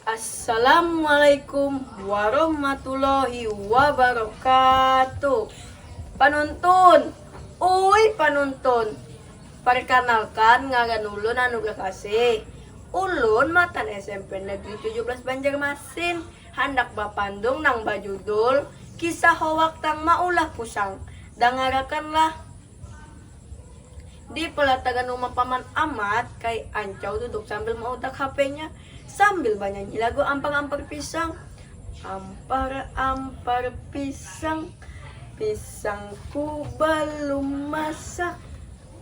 Assalamualaikum warahmatullahi wabarakatuh Panuntun, uy panuntun Parkanalkan ngaran ulun Anugrah Kasih Ulun matan smp Negeri tujuh belas Banjarmasin Handak bapandung nang bajudul Kisah Hoak Tang Maulah Pusang. Dangarakanlah! Di pelataran rumah Paman Amat, Kai Ancau duduk sambil mautak HP-nya, sambil banyanyi lagu Ampar-ampar Pisang. Ampar-ampar pisang, pisangku balum masak.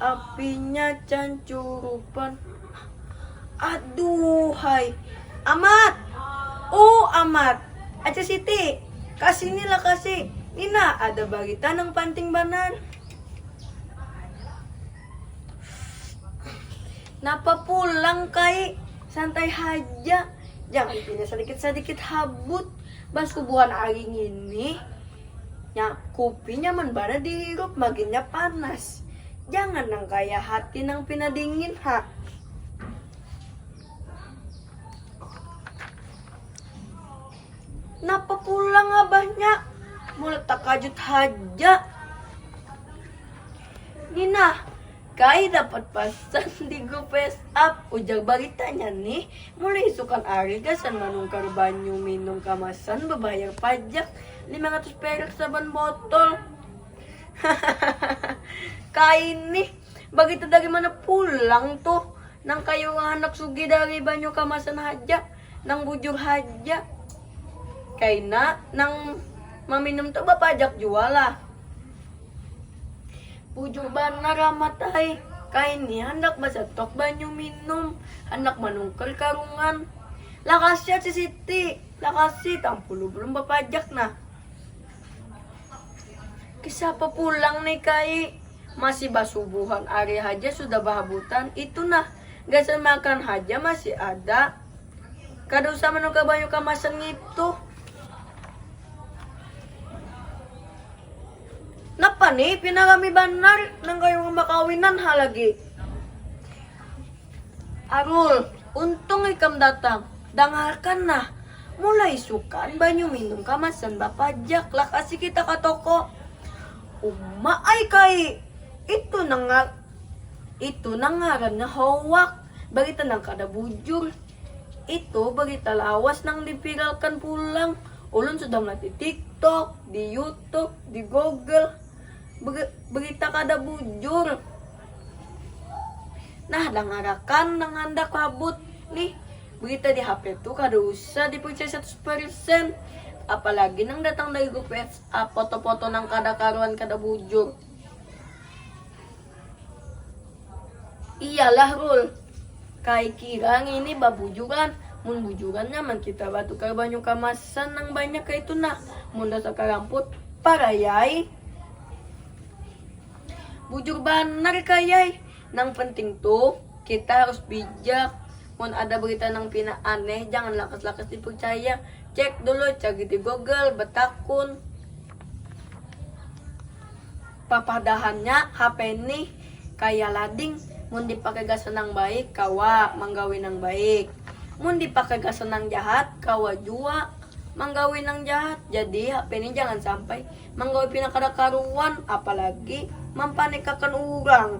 Apinya cancurupan Aduhhai Amat! Uuh Amat! Aca Siti! Ka sini lakasi! Ni nah ada barita nang panting banar. Napa pulang Kai? Santai haja, jangan pina sadikit-sadikit habut. Basubuhan ari ngini, nya kupi nyaman banar dihirup, maginnya panas. Jangan nang kaya hati nang pina dingin ha. Napa pulang abahnya? Mulai takajut haja. Nina, kai dapat pasan di grup WhatsApp ujar baritanya nih mulai isukan hari gasan manungkar banyu minum kamasan bebayar pajak 500 perak saban botol Hahaha kaini begitu dari mana pulang tuh nang kayu anak sugi dari banyu kamasan haja nang bujur haja kaina nang maminum tuh bapajak jua lah bujur banar amat ai kaini handak basetok banyu minum handak manungkel karungan lah kasihan si Siti lah kasih tampulu belum bapajak nah Siapa pulang nih kai? Masih basubuhan hari haja sudah bahabutan. Itu nah, gasan makan haja masih ada. Kada usah menukar banyu kamasan ngitu. Napa nih, pina rami banar nang kaya urang bakawinan ha lagi. Arul, untung ikam datang. Dangarkan nah, mulai isukan banyu minum kamasan bapajak lah kasi kita ka toko. Uma ai kai, itu nang ngar itu nang ngarannya hoak, barita nang kada bujur. Itu barita lawas nang di viralkan pulang, ulun sudah melihat di tiktok, di youtube, di google. Ber berita kada bujur. Nah, dangarakan nang handak labut nih, berita di HP tuh kada usah dipercaya 100%. Apalagi nang datang dari grup WhatsApp, foto-foto nang kada karuan kada bujur. Iyalah Rul, kai kira ngini babujuran. Mun bujuran nyaman kita batukar banyu kamasan nang banyak kaitu nah. Mun dasar karamput, parayai. Bujur banar kayai. Nang penting tu kita harus bijak. Mun ada berita nang pina aneh jangan lakas-lakas dipercaya. Cek dulu, cari di Google, betakun. Papadahannya HP nih kaya lading, mun dipakai gasan nang baik kawa manggawi nang baik, mun dipakai gasan nang jahat kawa jua manggawi nang jahat. Jadi HP nih jangan sampai Manggawi pina kada karuan, apalagi mampanikakan urang.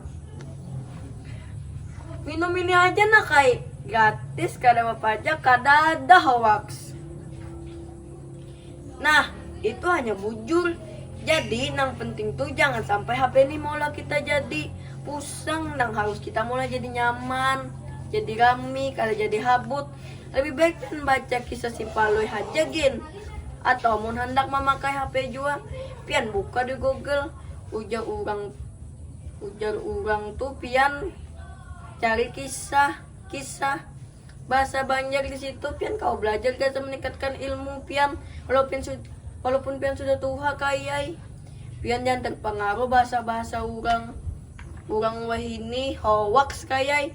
Minum ini haja nak ai, gratis kada bapajak kadada hoaks. Nah, itu hanya bujur. Jadi nang penting tuh jangan sampai HP ini maulah kita jadi pusang nang harus kita maulah jadi nyaman, jadi rami, kada jadi habut. Lebih baik pian baca kisah si Palui haja gin. Atau mun handak mamakai HP jua, pian buka di Google, ujar urang ujar urang tu pian cari kisah kisah bahasa Banjar di situ pian kau belajar gasan meningkatkan ilmu pian walaupun walaupun pian sudah tuha kayai pian jangan terpengaruh bahasa-bahasa orang orang wahini hoax kayai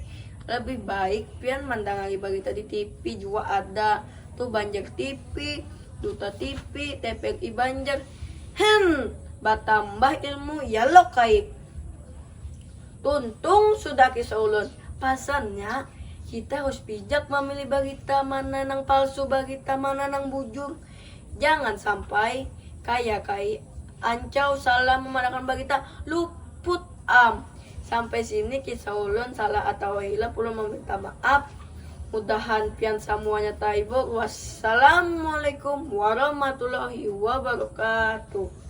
lebih baik pian mandangari berita di TV jua ada Tu Banjar TV, Duta TV, TPRI Banjar. Hem, batambah ilmu ya lo kai. Tuntung sudah kisah ulun. Pasannya, kita harus bijak mamilih barita mana nang palsu, barita mana nang bujur. Jangan sampai kaya kai Ancau salah mamarakan barita, luput. Am, sampai sini kisah ulun salah atawa hilah ulun maminta maaf, mudahan pian samuanya taibur, wassalamualaikum warahmatullahi wabarakatuh.